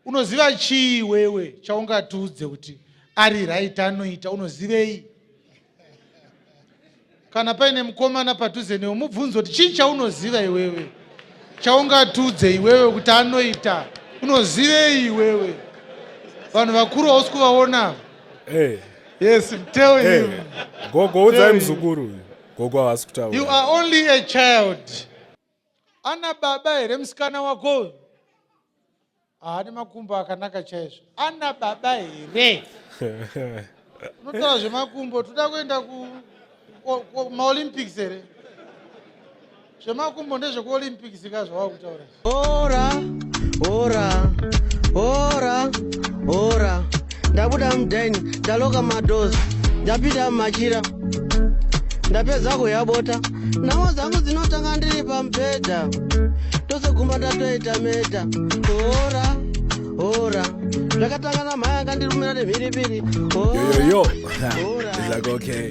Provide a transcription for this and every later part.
unoziva chii wewe chaungatiudze kuti ari right anoita unozivei kana paine mukomana padhuze newe mubvunzo kuti chii chaunoziva iwewe chaungatiudze iwewe kuti anoita unozivei iwewe vanhu vakuru hausi kuvaona hey. Eh. yes tell hey. Eh. him gogo udzai muzukuru gogo havasi kutaura you are only a child ana baba here musikana wako uyu haane makumbo akanaka chaizvo ana baba here unotaura zvemakumbo toda kuenda kumaolympics here zvemakumbo ndezvekuolympics ka zvawava kutaura ora ora ora ora ndabuda mudhaini ndaloka madozi ndapinda mumachira ndapedza kuyabota namo dzangu dzinotanga ndiri pamubhedha tosegumba ndatoita meta ora ora zvakatanga namhaya akandirumira nemhiripiri yoyoyo like okay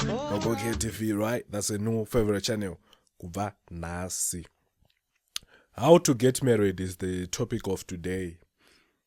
okay tv right that's a new favorite channel kubva nhasi how to get married is the topic of today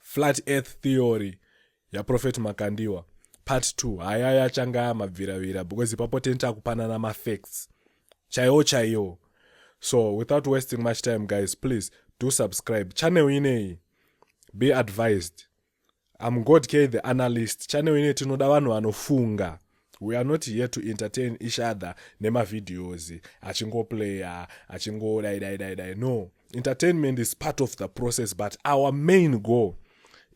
flat earth theory yaprofet makandiwa part 2 haya yachanga mabviravira because ipapo teni takupanana mafacts chaiwo chaiwo so without wasting much time guys please do subscribe channel ineyi be advised am god k the analyst channel ineyi tinoda vanhu vanofunga we are not here to entertain each other nemavideos achingoplaya achingodai dai dai dai no entertainment is part of the process but our main goal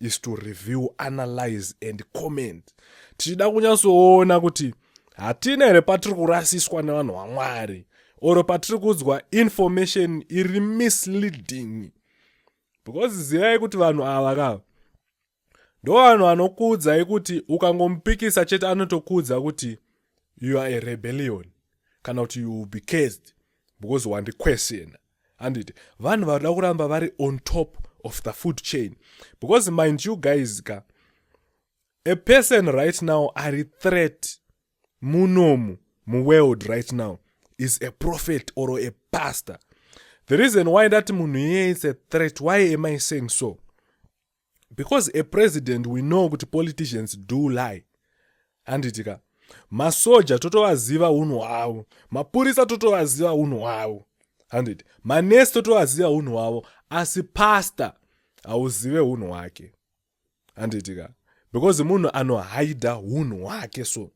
is to review analyze and comment tichida kunyatsoona kuti hatina here patiri kurasiswa nevanhu vamwari or patiri kuudzwa information iri misleading because zivai kuti vanhu ava ka ndovanhu anokuudzai kuti ukangomupikisa chete anotokuudza kuti you are a rebellion kana kuti you will be cased because wandiquestiona handiti vanhu vanoda kuramba vari on top of the food chain because mind you guys ka a person right now ari threat munomu muworld right now is a prophet or a pastor the reason why ndati munhu iyeye is a threat why am i saying so because a president we know kuti politicians do lie handiti ka masoja totovaziva unhu hwavo mapurisa totovaziva unhu hwavo handiti manesi totovaziva unhu hwavo asi pasta hauzive unhu hwake handiti ka because munhu anohaida unhu hwake so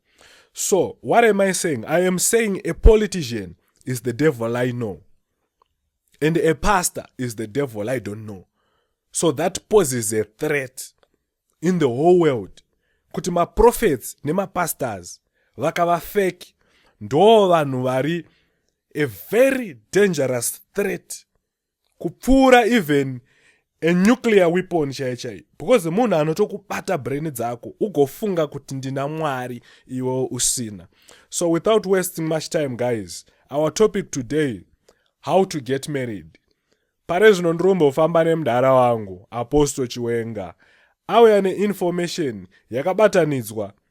so what am i saying i am saying a politician is the devil i know and a pastor is the devil i don't know so that poses a threat in the whole world kuti maprofets nemapastors vakava fake ndoo vanhu vari a very dangerous threat kupfuura even a nuclear weapon chaiye chaiye because munhu anotokubata brain dzako ugofunga kuti ndina mwari iwe usina so without wasting much time guys our topic today how to get married pare zvino ndirimbofamba nemudhara wangu apostle chiwenga auya neinformation yakabatanidzwa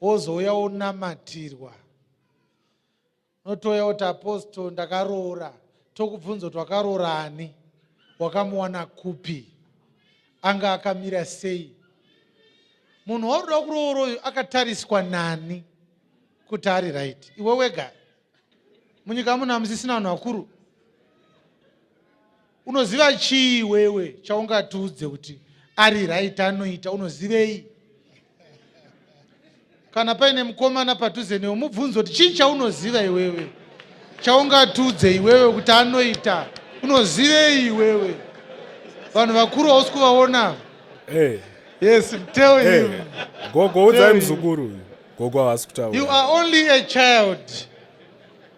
wozouya wonamatirwa unotouya kuti apostle ndakaroora tokubvunza kuti wakaroora ani wakamuwana kupi anga akamira sei munhu waunoda kuroora uyu akatariswa nani kuti ari right iwe wega munyika muno hamusisina vanhu vakuru Unoziva chii iwewe chaungatiudze kuti ari right anoita unozivei? Kana paine mukomana padhuze newe mubvunzo kuti chii chaunoziva iwewe chaungatiudze iwewe kuti anoita unozivei iwewe? Vanhu vakuru hausi kuvaona. Hey. Eh. Yes, tell hey. Eh. him. Gogo udzai mzukuru. Gogo havasi kutaura. You are only a child.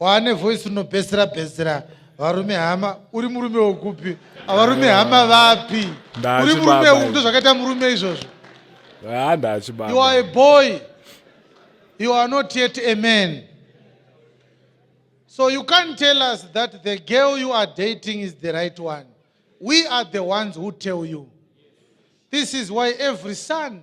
waane voice unobhesera bhesera varume hama uri murume wekupi avarume hama vapi uri murume uku ndo zvakaita murume izvozvo you are a boy you are not yet a man so you can't tell us that the girl you are dating is the right one we are the ones who tell you this is why every son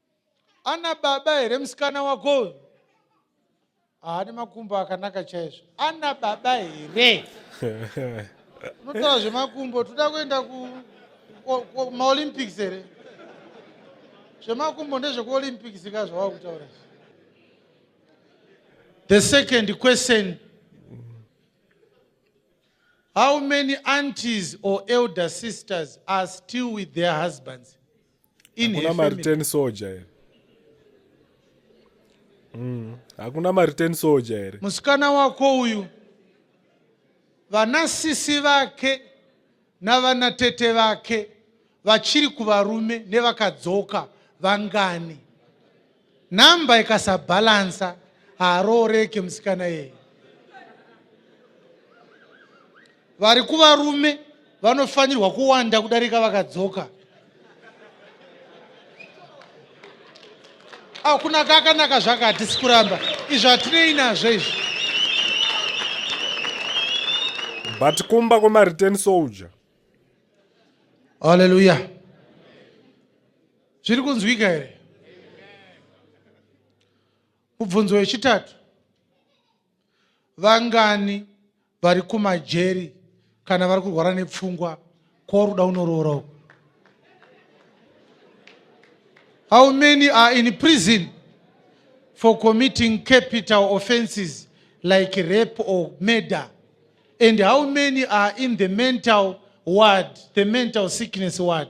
ana baba here musikana wako uyu haane makumbo akanaka chaizvo ana baba here unotaura zvemakumbo toda kuenda kumaolympics here zvemakumbo ndezvekuolympics ka zvawava kutaura the second question how many aunties or elder sisters are still with their husbands hakuna mareturn soja here mm. hakuna mareturn soja here musikana wako uyu vana sisi vake navana tete vake vachiri kuvarume nevakadzoka vangani Number ikasabalansa haarooreke musikana yeye. Vari kuvarume vanofanirwa kuwanda kudarika vakadzoka. Au kunaka akanaka zvaka hatisi kuramba izvo hatinei nazvo izvi. But kumba kwema return soldier. Hallelujah. zviri kunzwika here mubvunzo wechitatu vangani vari kumajeri kana vari kurwara nepfungwa kworuda unoroora uku how many are in prison for committing capital offenses like rape or murder and how many are in the mental ward the mental sickness ward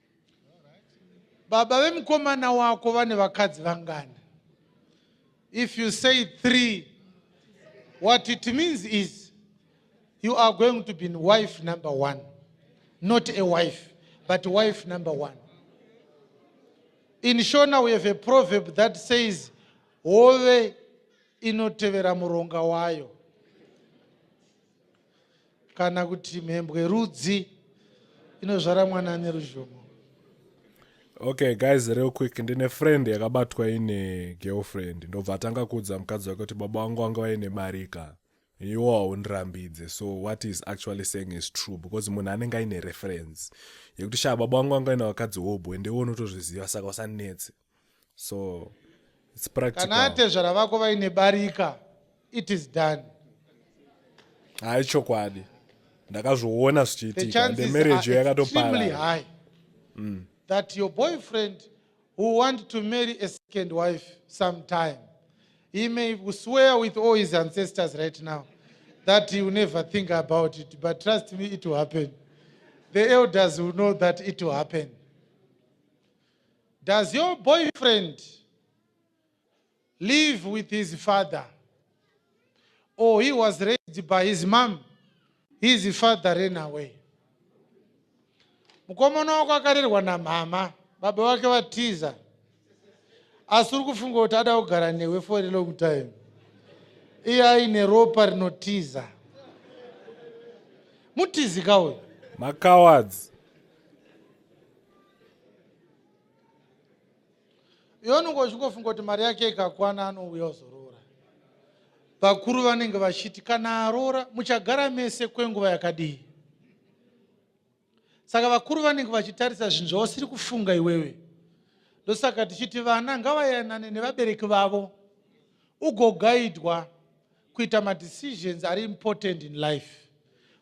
baba vemukomana wako vane vakadzi vangani if you say three what it means is you are going to be wife number one not a wife but wife number one in shona we have a proverb that says hove inotevera muronga wayo kana kuti mhembwe rudzi inozvara mwana ane ruzhomo okay guys real quick ndine friend yakabatwa ine girlfriend ndobva atanga kuudza mukadzi wake kuti baba wangu wanga vaine marika iwo haundirambidze so what is actually saying is true because munhu anenge aine reference yekuti shaa baba wangu wanga vaine vakadzi hobwe ndewe unotozviziva saka usanetse so it's practical kana atezvara vako vaine barika it is done hayi chokwadi ndakazviona the zvichiitika the chances marriage are extremely yakatopara high that your boyfriend who want to marry a second wife sometime he may swear with all his ancestors right now that he will never think about it but trust me it will happen the elders will know that it will happen Does your boyfriend live with his father or he was raised by his mom his father ran away mukomana wako akarerwa namhama baba vake vatiza asi uri kufunga kuti ada kugara newe for a long time iye aine ropa rinotiza mutizi kauyo makawadzi iwe unenge uchingofunga kuti mari yake ikakwana anouya ozoroora vakuru vanenge vachiti kana aroora muchagara mese kwenguva yakadii saka vakuru vanenge vachitarisa zvinhu zvausiri kufunga iwewe ndosaka tichiti vana ngavayanane nevabereki vavo ugogaidwa kuita madecisions ari important in life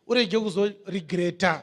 urege kuzoregreta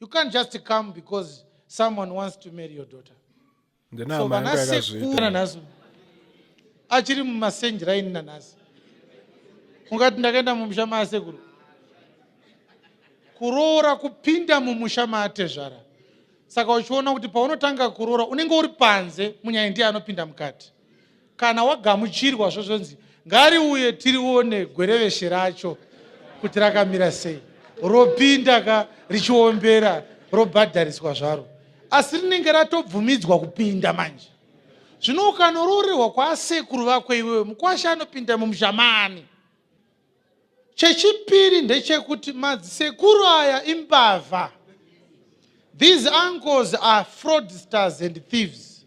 You can't just come because someone wants to marry your daughter. So vanasekuru nhasi achiri mumasenji raini nanhasi ungati ndakaenda mumusha maasekuru kuroora kupinda mumusha maatezvara saka uchiona kuti paunotanga kuroora unenge uri panze munyaya ndiye anopinda mukati kana wagamuchirwa zvozvonzi ngariuye tirione gwereveshe racho kuti rakamira sei ropinda ka richiombera robhadhariswa zvaro asi rinenge ratobvumidzwa kupinda manje zvino ukanoroorerwa kwaasekuru vako iwewe mukwashe anopinda mumushamani chechipiri ndechekuti madzisekuru aya imbavha these uncles are fraudsters and thieves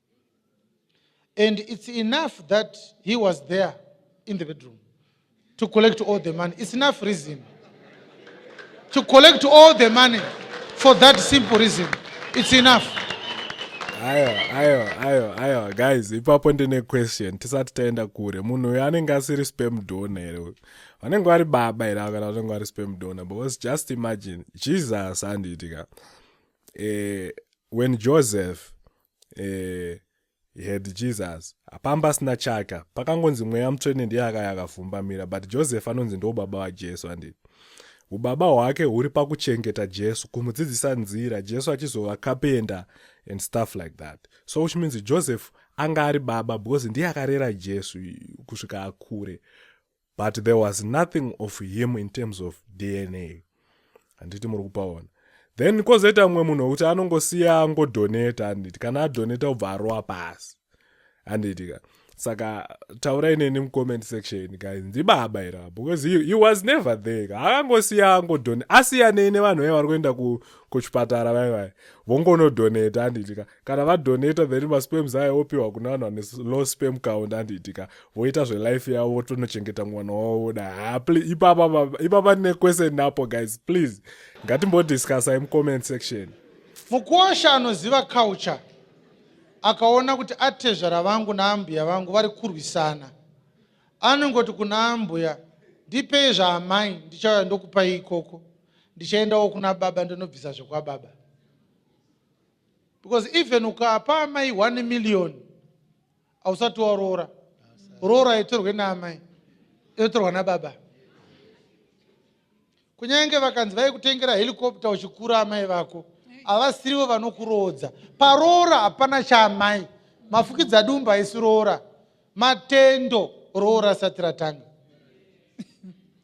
and it's enough that he was there in the bedroom to collect all the money it's enough reason to collect all the money for that simple reason it's enough ayo ayo ayo ayo guys ipapo ndine question tisati taenda kure munhu uyo anenge asiri spam dona here uyu vanenge vari baba here avo kana vanenge vari spam dona because just imagine jesus andiitika eh, when joseph eh, he had jesus hapanga pasina chaka pakangonzi mweya mutsvene ndiye akaya akavhumbamira but joseph anonzi ndo baba vajesu handii ubaba hwake huri pakuchengeta jesu kumudzidzisa nzira jesu achizova kapenda and stuff like that so which means joseph anga ari baba because ndiye akarera jesu kusvika akure but there was nothing of him in terms of dna handiti muri kupaona then kozoita mumwe munhu wekuti anongosiya angodoneta handiti kana adoneta ubva arowa pasi handiti ka saka taurai neni mucomment section ka ndibaba ira because he, he was never there ka akangosiya angodone asiyanei nevanhu vaye vari kuenda kuchipatara vaye vaye vongonodoneta handiti ka kana vadonata then masperms aya opiwa kuna vanhu vane low sperm count anditi ka voita zvelife yavo votonochengeta mwana wavo voda ha ipapa ndine question napo guys please ngatimbodiscussai mucomment section mukuosha anoziva culture akaona kuti atezvara vangu naambuya vangu vari kurwisana anongoti kuna ambuya ndipei zvaamai ndichauya ndokupai ikoko ndichaendawo kuna baba ndonobvisa zvekwababa because even ukapa amai 1 million hausati waroora roora haitorwe naamai inotorwa nababa kunyange vakanzi vaikutengera helicopter uchikura amai vako havasirivo vanokuroodza paroora hapana chaamai mafukidza dumba haisi roora Matendo roora asati ratanga.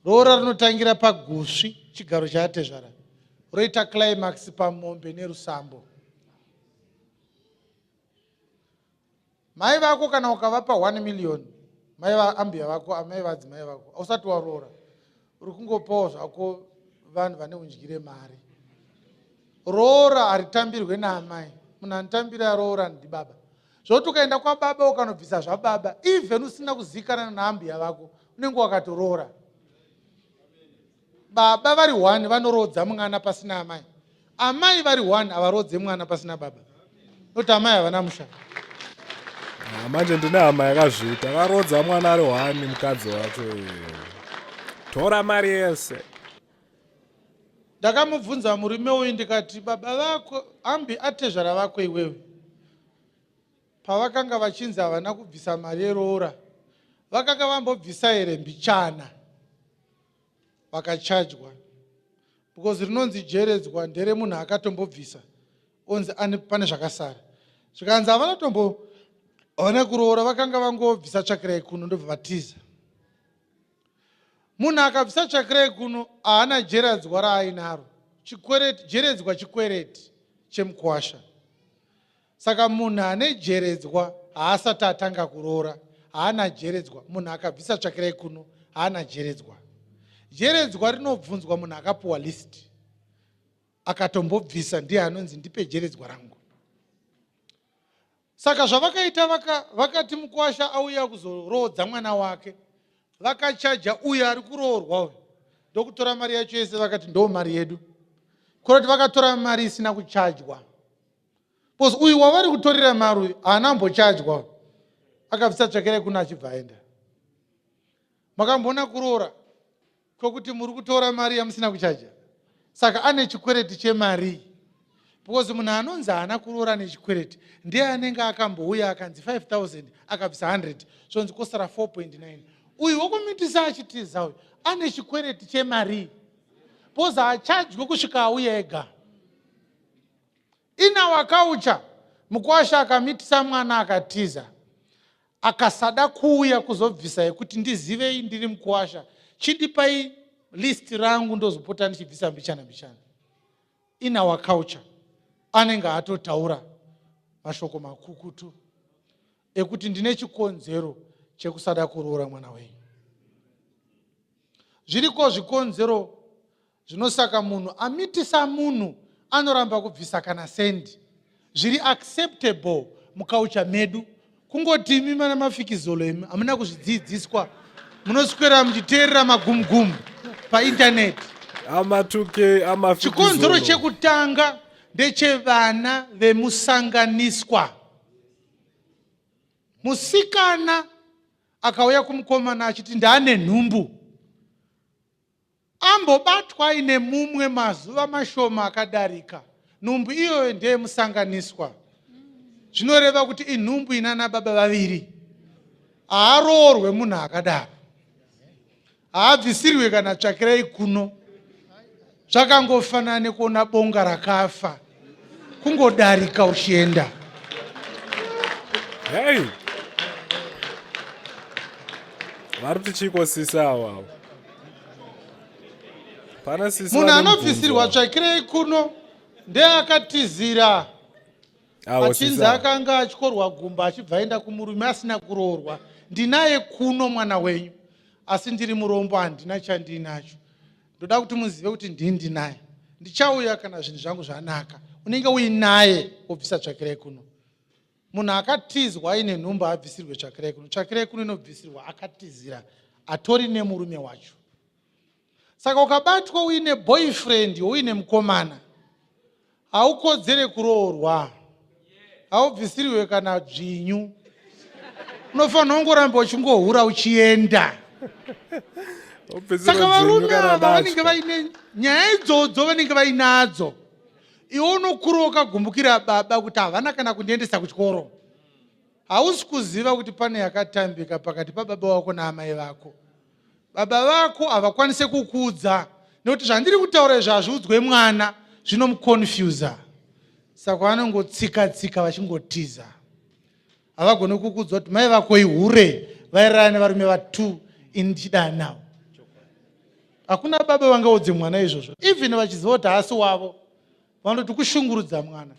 Roora rinotangira pagusvi chigaro chaatezvara roita climax pamombe nerusambo. Mai vako kana ukavapa 1 million mai vaambuya vako amai vadzimai vako ausati waroora Uri kungopawo zvako vanhu vane undyire mari. Roora haritambirwe naamai. Munhu anotambira roora ndibaba. Zvoti ukaenda kwababa ukanobvisa zvababa, even usina kuzivikanana naambuya vako, unenge wakatoroora. Baba vari one vanoroodza mwana pasina amai. Amai vari one havarodze mwana pasina baba noti amai havana musha. Ah, manje ndine hama yakazviita akarodza mwana ari one mukadzi wacho tora mari yese. Ndakamubvunza murume uyu ndikati baba vako ambi atezvara vako iwewe pavakanga vachinzi havana kubvisa mari yeroora vakanga vambobvisa here mbichana pakachajwa because rinonzi jeredzwa ndere munhu akatombobvisa onzi ane pane zvakasara zvikanzi havana tombo havana kuroora vakanga vangobvisa tsvakirai kuno ndobva vatiza munhu akabvisa tsvakirai kuno haana jeradzwa raainaro chikwereti jeredzwa chikwereti chemukwasha Saka munhu ane jeredzwa haasati atanga kuroora haana jeredzwa, munhu akabvisa tsvakirai kuno haana jeredzwa. Jeredzwa rinobvunzwa munhu akapuwa list akatombobvisa ndiye anonzi ndipe jeredzwa rangu. Saka zvavakaita vaka, vakati mukwasha auya kuzoroodza mwana wake vakachaja uyo ari kuroorwa uyo ndokutora mari yacho yese vakati ndo mari yedu kurati vakatora mari isina kuchajwa bcause uyu wavari kutorera mari uyu haana ambochajwa akabvisa tsvakirai kuna achibva aenda makamboona kuroora kwekuti muri kutora mari yamusina kuchaja saka ane chikwereti chemarii because munhu anonzi haana kuroora nechikwereti ndiye anenge akambouya akanzi 5000 akabvisa 100 zvonzi kosara 4.9 uyu wokumitisa achitiza uyu ane chikwereti chemarii because haachajwe kusvika auya ega In our culture, mukwasha akamitisa mwana akatiza akasada kuuya kuzobvisa yekuti ndizivei ndiri mukwasha chidipai list rangu ndozopota ndichibvisa mbichana mbichana in our culture anenge atotaura mashoko makukutu ekuti ndine chikonzero chekusada kuroora mwana wenyu zviriko zvikonzero Zvino saka munhu amitisa munhu anoramba kubvisa kana sendi zviri acceptable mukaucha medu kungoti imi mana mafikizolo imi hamuna kuzvidzidziswa munoswera muchiteerera magumgumu paintaneti amatuke chikonzero chekutanga ndechevana vemusanganiswa musikana akauya kumukomana achiti ndaane nhumbu Ambobatwa aine mumwe mazuva mashoma akadarika. Nhumbu iyoyo ndeyemusanganiswa. Zvinoreva kuti inhumbu ina anababa vaviri. Haaroorwe munhu akadaro. Haabvisirwe kana tsvakirai kuno. Zvakangofanana nekuona bonga rakafa. kungodarika uchienda hey. vari kuti chiko sisi awawo pana sisi munhu anobvisirwa tsvakirei kuno ndeakatizira achinzi akanga achikorwa gumba achibva aenda kumurume asina kuroorwa ndinaye kuno mwana wenyu asi ndiri murombo handina chandiinacho ndoda kuti muzive kuti ndini ndinaye ndichauya kana zvinhu zvangu zvanaka unenge uinaye wobvisa tsvakirai kuno munhu akatizwa aine nhumba haabvisirwe tsvakirai kuno tsvakirai kuno inobvisirwa akatizira atori nemurume wacho saka ukabatwa uine boyfriend youine mukomana Haukodzere kuroorwa. Haubvisirwe kana dzvinyu. Unofanira kungoramba uchingohura uchienda. Saka varume ava vanenge vaine nyaya idzodzo vanenge vainadzo. Iwe unokura wakagumbukira baba kuti havana kana kundiendesa kuchikoro. Hausi kuziva kuti pane yakatambika pakati pababa wako naamai vako. Baba vako havakwanise kukuudza nekuti zvandiri kutaura izvo hazviudzwe mwana zvinomuconfusa saka vanongotsika tsika vachingotiza havagone kukuudzwa kuti mai vako ihure vairara nevarume vatu ini ndichidaa navo hakuna baba vangaudze mwana izvozvo even vachiziva kuti haasi wavo vanoti kushungurudza mwana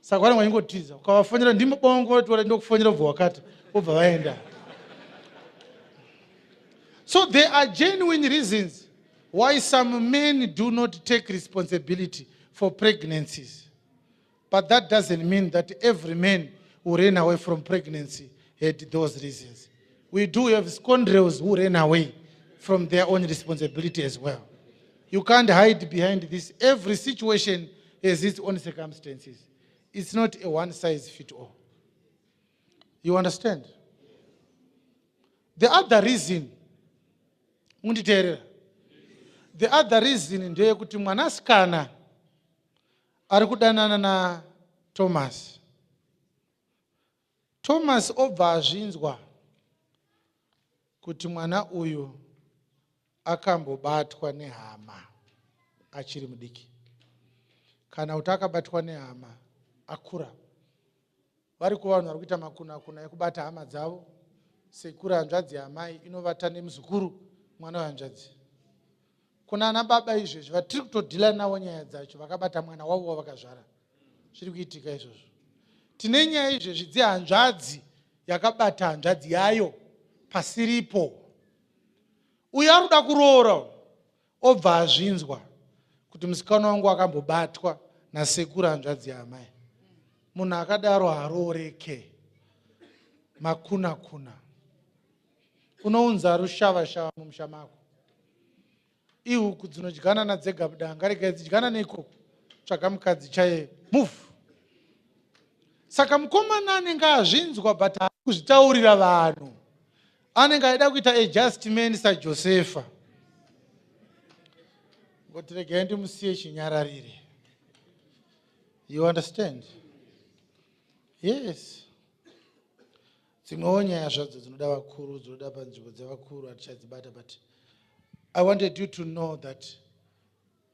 saka vanenge vachingotiza ukavafonera ndimo bawangotoda ndokufonera ubva wakati obva vaenda so there are genuine reasons why some men do not take responsibility for pregnancies but that doesn't mean that every man who ran away from pregnancy had those reasons we do have scoundrels who ran away from their own responsibility as well You can't hide behind this. Every situation has its own circumstances. It's not a one size fit all. You understand? The other reason, munditeerera. The other reason ndeyekuti mwanasikana ari kudanana na Thomas. Thomas obva azvinzwa kuti mwana uyu akambobatwa nehama achiri mudiki kana kuti akabatwa nehama akura vari kuva vanhu vari kuita makunakuna ekubata hama dzavo sekuru hanzvadzi yamai inovata nemuzukuru mwana wehanzvadzi kunana baba izvezvi vatiri kutodhila navo nyaya dzacho vakabata mwana wavo wavakazvara zviri kuitika izvozvo tine nyaya izvezvi dzehanzvadzi yakabata hanzvadzi yayo pasiripo uyo ari kuda kuroora obva azvinzwa kuti musikana wangu akambobatwa nasekuru hanzvadzi yaamai munhu akadaro harooreke makunakuna Unounza rushava shava mumusha mako. Ihuku dzinodyanana dzega budanga regai dzidyana neikoko tsvaga mukadzi chaye move. Saka mukomana anenge azvinzwa but kuzvitaurira vanhu anenge aida kuita adjustment saJosefa. Ngoti regai ndimusiye chinyararire. You understand? Yes. Dzimwewo nyaya zvadzo dzinoda vakuru dzinoda panzvimbo dzevakuru hatichadzibata but I wanted you to know that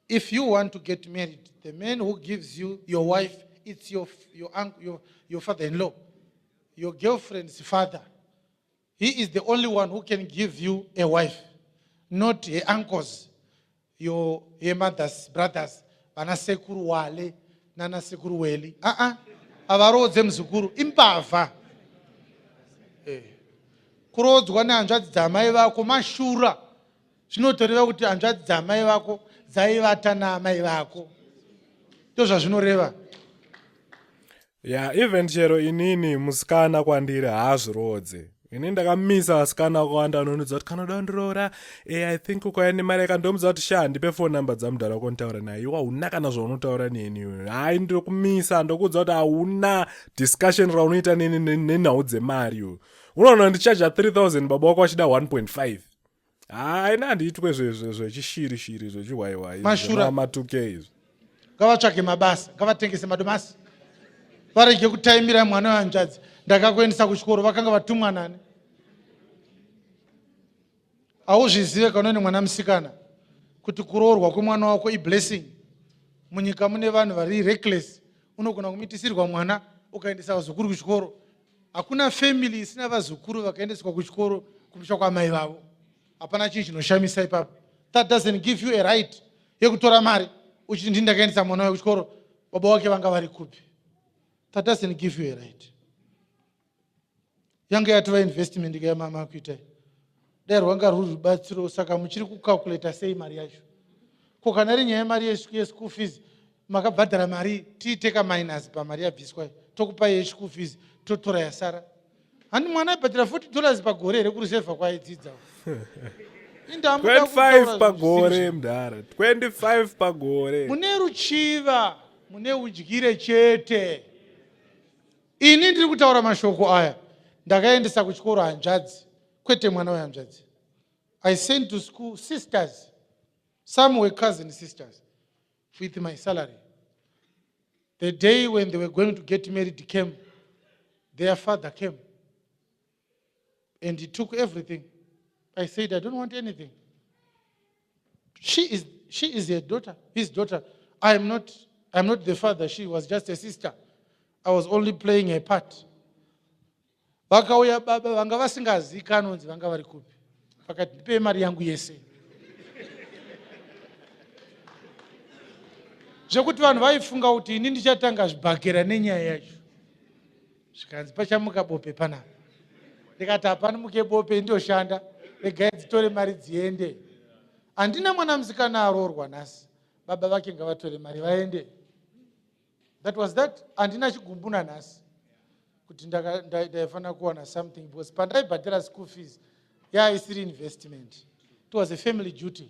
if you want to get married the man who gives you your wife it's your, your, uncle, your, your father in law your girlfriend's father he is the only one who can give you a wife not her uncles Iyo yemothers brothers vana sekuru wale nana sekuru weli aa havaroodze muzukuru imbavha eh. kuroodzwa nehanzvadzi dzamai vako mashura zvinotoreva kuti hanzvadzi dzamai vako dzaivata naamai vako ndozvazvinoreva ya even chero inini musikana kwandiri haazviroodze ini ndakamisa asikana akawanda anonudza kuti kanoda undiroora e eh, i think ukauya nemari yakandomudza kuti sha ndipe fon number dzamudhara wako nditaura naye iwe hauna kana zvaunotaura neni iwe hai ndokumisa ndokuudza kuti hauna discussion raunoita neni nenhau dzemari iwe unoona ndichaja 3000 baba wako vachida 1.5 haina handiitwe zvechishiri shiri zvechihwaiwai matuke izvi ngavatsvage mabasa ngavatengese madomasi varege kutaimira mwana wehanzvadzi ndakakuendesa kuchikoro vakanga vatumwa nani hauzvizive kana une mwana musikana kuti kuroorwa kwemwana wako iblessing munyika mune vanhu vari reckless unogona kumitisirwa mwana ukaendesa vazukuru kuchikoro hakuna family isina vazukuru vakaendeswa kuchikoro kumusha kwaamai vavo hapana chinhu chinoshamisa ipapo that doesn't give you a right yekutora mari uchiti ndini ndakaendesa mwana wayo kuchikoro baba wake vanga vari kupi that doesn't give you a right yange yatova investment kayamama kuitai dai rwanga rwuri rubatsiro saka muchiri kucalculator sei mari yacho ko kana iri nyaya yemari yeschool fees makabhadhara mari tiite kaminus pamari yabviswa tokupai yeschool fees totora yasara handi mwana aibhadhara 40 dollars pagore here kureserva kwaaidzidza 25 pagore mdhara 25 pagore mune ruchiva mune udyire chete Ini ndiri kutaura mashoko aya ndakaendesa kuchikoro hanzvadzi kwete mwana wehanzvadzi. I sent to school sisters some were cousin sisters with my salary. The day when they were going to get married came their father came and he took everything i said i don't want anything she is, she is her daughter his daughter i am not, I am not the father she was just a sister i was only playing her part vakauya baba vanga vasingazivi kanonzi vanga vari kupi vakati ndipei mari yangu yese zvekuti vanhu vaifunga kuti ini ndichatanga zvibhakera nenyaya yacho zvikanzi pachamuka bope panapa ndikati hapani muke bope indoshanda regai dzitore mari dziende handina mwana musikana aroorwa nhasi baba vake ngavatore mari vaende that was that handina chigumbu nanhasi kuti ndaifanira kuwana something because pandaibhadhira school fees yaa isiri investment it was a family duty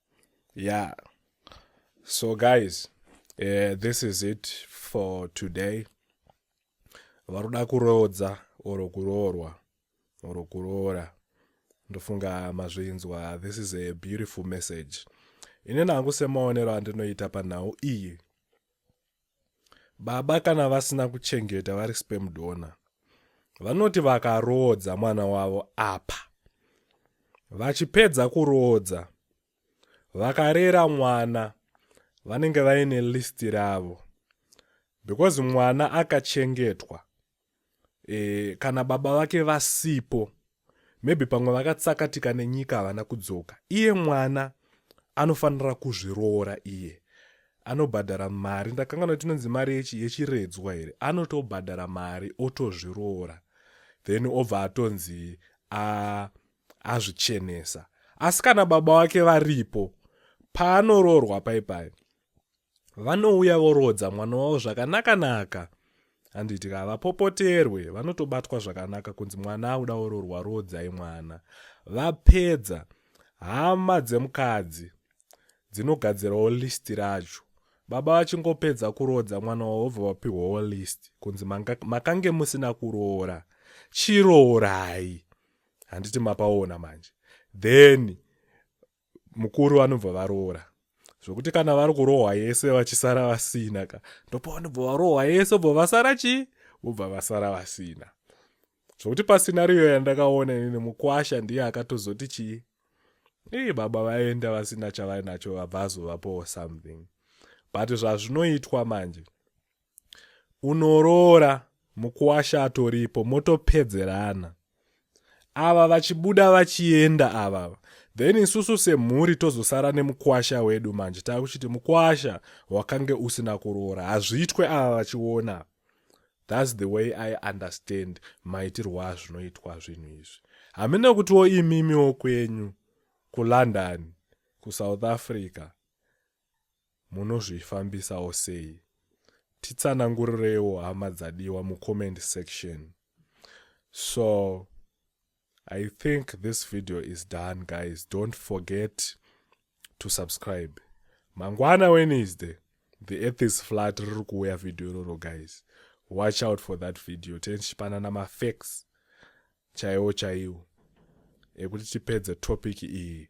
yeah so guys uh, this is it for today varoda kuroodza or kuroorwa or kuroora ndofunga mazvinzwa this is a beautiful message ini nangu semaonero andinoita panhau iyi Baba kana vasina kuchengeta vari sperm donor vanoti vakaroodza mwana wavo apa vachipedza kuroodza vakarera mwana vanenge vaine list ravo because mwana akachengetwa e, kana baba vake vasipo maybe pamwe vakatsakatika nenyika havana kudzoka iye mwana anofanira kuzviroora iye anobhadhara mari ndakanga noti inonzi mari yechiredzwa here anotobhadhara mari otozviroora then obva atonzi azvichenesa asi kana baba wake varipo paanoroorwa paipai vanouya voroodza mwana wavo zvakanaka naka handiti ka vapopoterwe vanotobatwa zvakanaka kunzi mwana auda ororwa roodzai mwana vapedza hama dzemukadzi dzinogadzirawo list racho baba vachingopedza kuroodza mwana wavo vobva vapihwawo list kunzi makange musina kuroora chiroorai handiti mapaona manje then mukuru vanobva varoora zvokuti kana vari kurohwa yese vachisara vasina ka ndopavanobva varohwa yese obva vasara chii vobva vasara vasina zvokuti pasinariyo yandakaona ini mukwasha ndiye akatozoti chii ii baba vaenda vasina chavainacho vabva azovapowo something but zvazvinoitwa manje unoroora mukuwasha atoripo motopedzerana ava vachibuda vachienda ava then isusu semhuri tozosara nemukwasha wedu manje taakuchiti mukwasha wakange usina kuroora hazviitwe ava vachiona thats the way i understand maitirwo azvinoitwa zvinhu izvi hamene kutiwo imimiwo kwenyu kulondon kusouth africa munozvifambisawo sei titsanangurireiwo hama dzadiwa mucomment section so i think this video is done guys don't forget to subscribe mangwana wednesday the earth is flat riri kuuya video iroro guys watch out for that video tenchipanana mafacts chaiwo chaiwo ekuti tipedze topic iyi